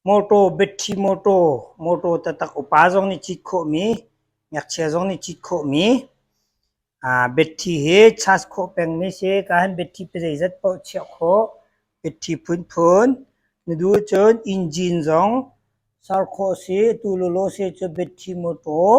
Mawṭaw, betthli mawṭaw, mawṭaw taktak upa zong nih cit khawhmi, ngakchia zong nih cit khawhmi. Betthli hi chas khawh pengmi a si. Ka han betthli pazeizat paoh chiah khawh. Betthli phunphun. Na duh ahcun engine zong ser khawh a si. Atu lawlaw a si ahcun betthli mawṭaw.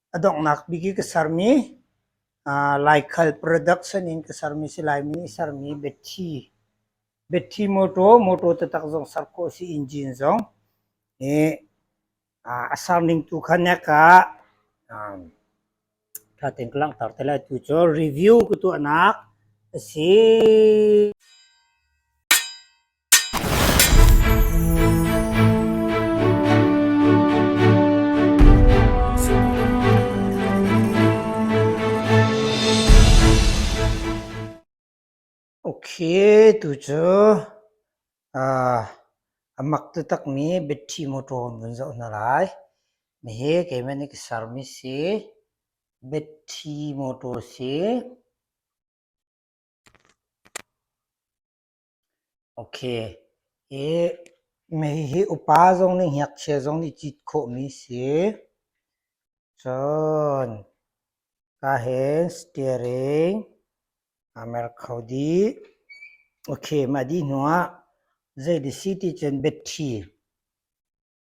A donghnak bik i ka sermi uh, Laikhal Products in ka sermi si Laimi i sermi Betty. Betty Motor, motor tatak zong ser ko si engine zong. I uh, a serning tu khan ne ka um, thaten ka langtar te lai tu cu review ku tu anak asi Tucu a mak taktakmi battery motor vun zoh hna lai. Hihi keimah nih ka sermi si battery motor si. Hi mei hi upa zong nih ngakchia zong nih cit khawhmi a si. Cun kaa hen steering aa mer kho dih. Okay, mah dih hnu ah zei dih si ti cun battery.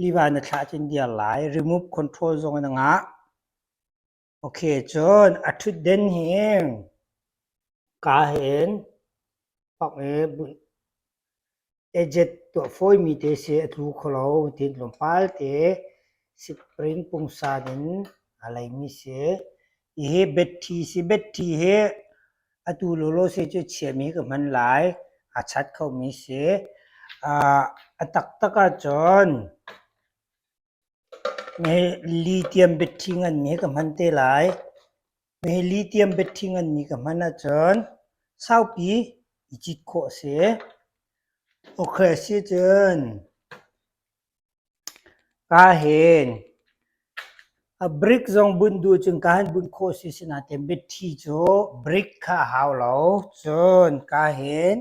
liva na thlah cun dir lai remove control zong na ngah ok cun a thutden hi ka hen fak e ejet tuah fawi mi te si a tlu kho lo tin lawmpal te spring pungsan in a lei mi si Hihi battery si. Battery hi atu lawlaw si cu chiahmi ka hman lai. A that khomi si. A taktak ahcun mihi lithium battery nganmi ka hman te lai. Mihi lithium battery nganmi ka hman ahcun saupi i cit khawh a si. Okay, sicun. Kaa hen. A brick zong bunh duh cun kaa hin bunh khawh si sinah tiah mitthi cu brick kha a hau lo. Cun kaa hen,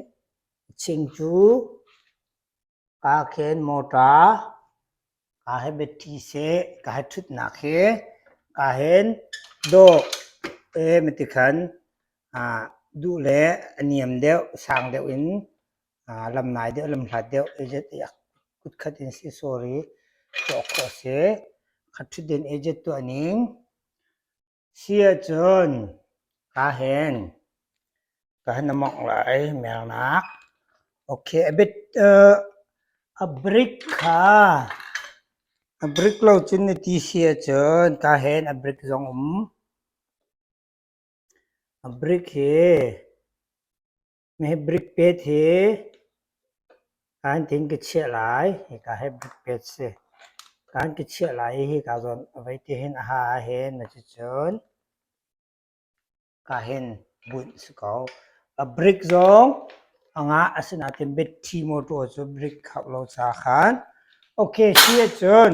ching cu kaa khen motor, kaa he mitthi seh, kaa he ṭhutnak hi kaa hen dawh ee miti khan duh le a niam deuh, sang deuh in Lam nai deuh lam hlat deuh agent i kutkhat in si sawr i tuah khawh a si. Khat ṭhutden agent tuahning si ahcun kaa hen, ka han i mongh lai mernak. Ok, a bit a brick kha a brick lo cun na ti si ahcun kaa hen a brick zong um. A brick hi Hmebrik pet hi kaan tin ka chiah lai. Hika hmebrik pet si. Kaan ka chiah lai i hika zawn a vei ti hin a ha hin. Cucun ka hin bunh si ko. A brick zong a ngah asinain bithi motor cu brick khauh lo caah khan. Okay, si ahcun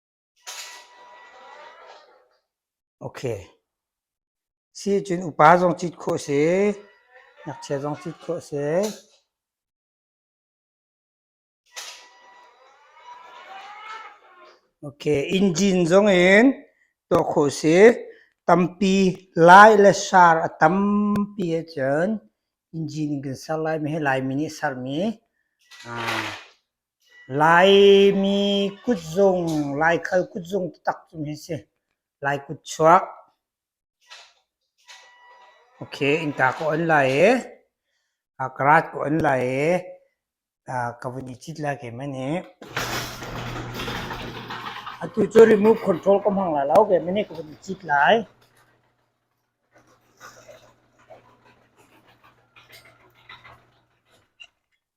Sicun upa zong cit khawh a si, ngakchia zong cit khawh a si. Engine zong in tuah khawh a si. Tampi lai le sar a tampi ahcun engine in kan ser lai. Hihi Laimi nih a sermi. Laimi kutzung, Laikhal kutzung taktak cu hi a si. Lai kutchuak. Ok, innka ka on lai i, karat ka on lai i, ka vun i cit lai kem ani. Atu cu remote control ka hmang lai lo kem ani, ka vun i cit lai.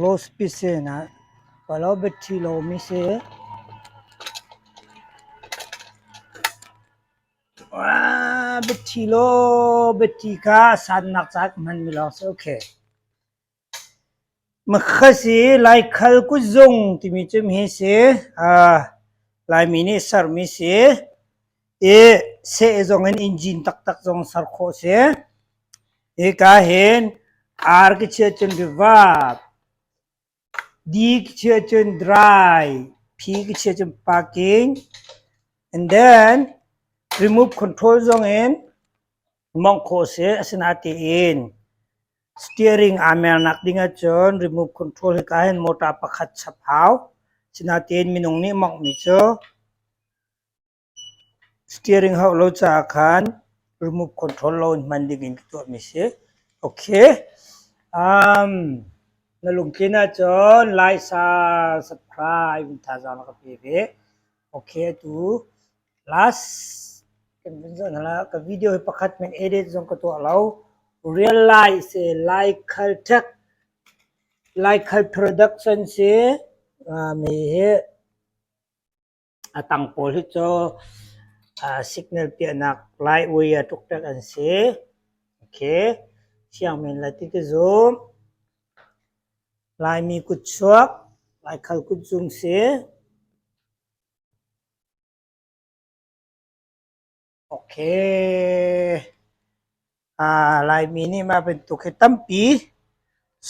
Laws pisen ah palo bia ṭhi lomi si. Bia ṭhi law bia ṭi kha a sannak caah hmanmi lawng si. Makhas i Laikhal kutzung timi cu hi si Laimi nih sermi si i seh zong in engine taktak zong ser khawh a si. Hika hin R ki chia cun reverb, D ki chia cun dry, P ki chia cun parking and then remove control zong in hmang khawh a si. Asinain tiin. Steering aa mer nak ding ahcun remote control hika hin motor pakhat chap hau. Asinain minung nih mongh mi cu steering hauh lo caah khan remote control lo in hman ding in ka tuah mi si. Okay. Um, na lungtlin ahcun like, subscribe in thazaang na ka pe ve. Okay, atu Last kan vun zoh hna la, ka video hi pakhat men edit zong ka tuah lo. Real life si, laikhal tech, laikhal production si. Uh, mi hi a tang pawl hi cu uh, signal piahnak laiui a tuk tek an si. Okay. Siang men la ti ti zoom. Laimi kutchuak, laikhal kutzung si. Laimi nih mah bantuk hi tampi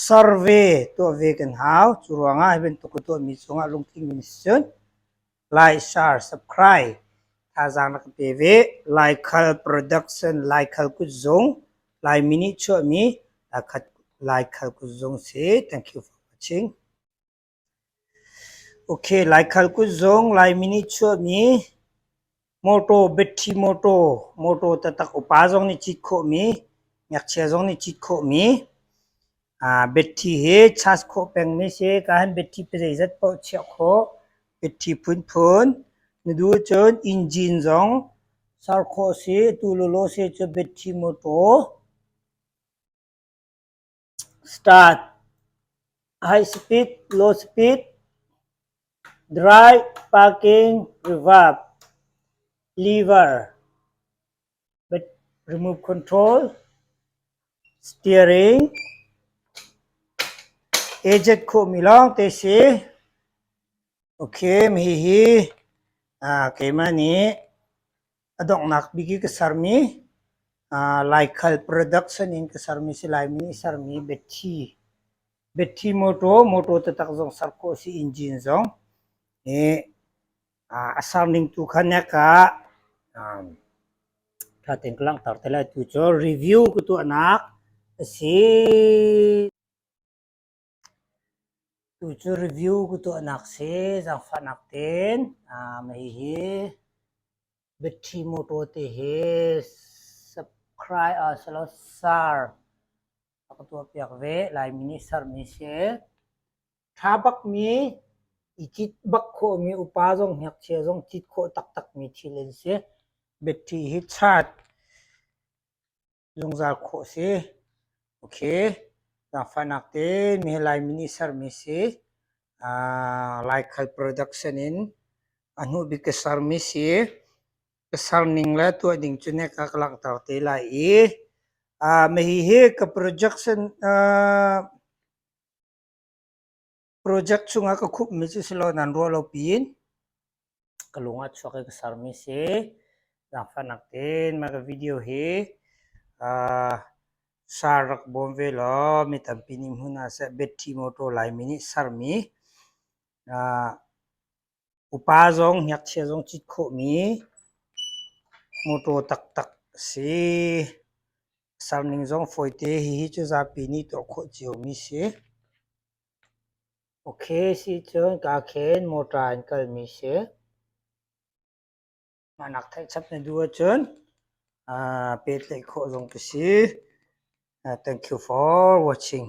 survey tuah ve kan hau. Cu ruangah hi bantuk ka tuahmi cungah lungtling in si cun like, share, subscribe thazaang na ka pe ve. Laikhal production, Laikhal kutzung, Laimi nih chuahmi Laikhal kutzung si. Thank you for watching. Laikhal kut zong Laimi nih chuahmi mawṭaw, battery mawṭaw, mawṭaw taktak upa zong nih cit khawhmi, ngakchia zong nih cit khawhmi battery hi charge khawh pengmi si. Kaa hin battery pazeizat paoh chiah khawh. Battery phunphun na duh cun engine zong ser khawh si. Atu lawlaw si cun battery mawṭaw. Start, high speed, low speed, dry, parking, reverb, lever. Remove control, steering, eject khawhmi lawngte si. Okay, hihi ah keimah nih A donghnak bik i ka sermi uh, Laikhal Products in ka sermi si Laimi i sermi Betty. Betty Motor, motor tatak zong ser khawh si engine zong. I uh, a serning tu khan ya ka um, thaten ka langhtar te lai tu cu review ka tuahnak a si. Tucu review ka tuahnak si zaangfahnak tein hihi Battery Motor te hi subscribe selaw share a ka tuahpiak ve. Laimi nih sermi si. Tha bakmi, i cit bak khawhmi upa zong, ngakchia zong cit khawh taktakmi thil an si. Battery hi charge Zungzal khawh si. Ok. Zaangfahnak te mi he Laimi nih sermi si. Ah, laikhal production in a hnubik ka sermi si. Ka serning le tuah ding cu ne ka ka langhter te lai i ah, mahi hi ka production ah, project chungah ka khupmi cu si lo nan ruah lo pin ka lung a chuak i ka sermi si zaangfahnak tein mah ka video hi uh, sar rak bawm ve law mi tampi nih hmun ah seh betty motor laimi nih sermi uh, Upa zong ngakchia zong cit khawhmi mawṭaw taktak a si. A sarning zong fawite. Hihi cu zapi nih tuah khawh ciomi a si. Ok si cun kaa khen mawṭa in kalmi a si. Mah nak theihchap na duh ahcun pehtlaih khawh zong ka si. Thank you for watching.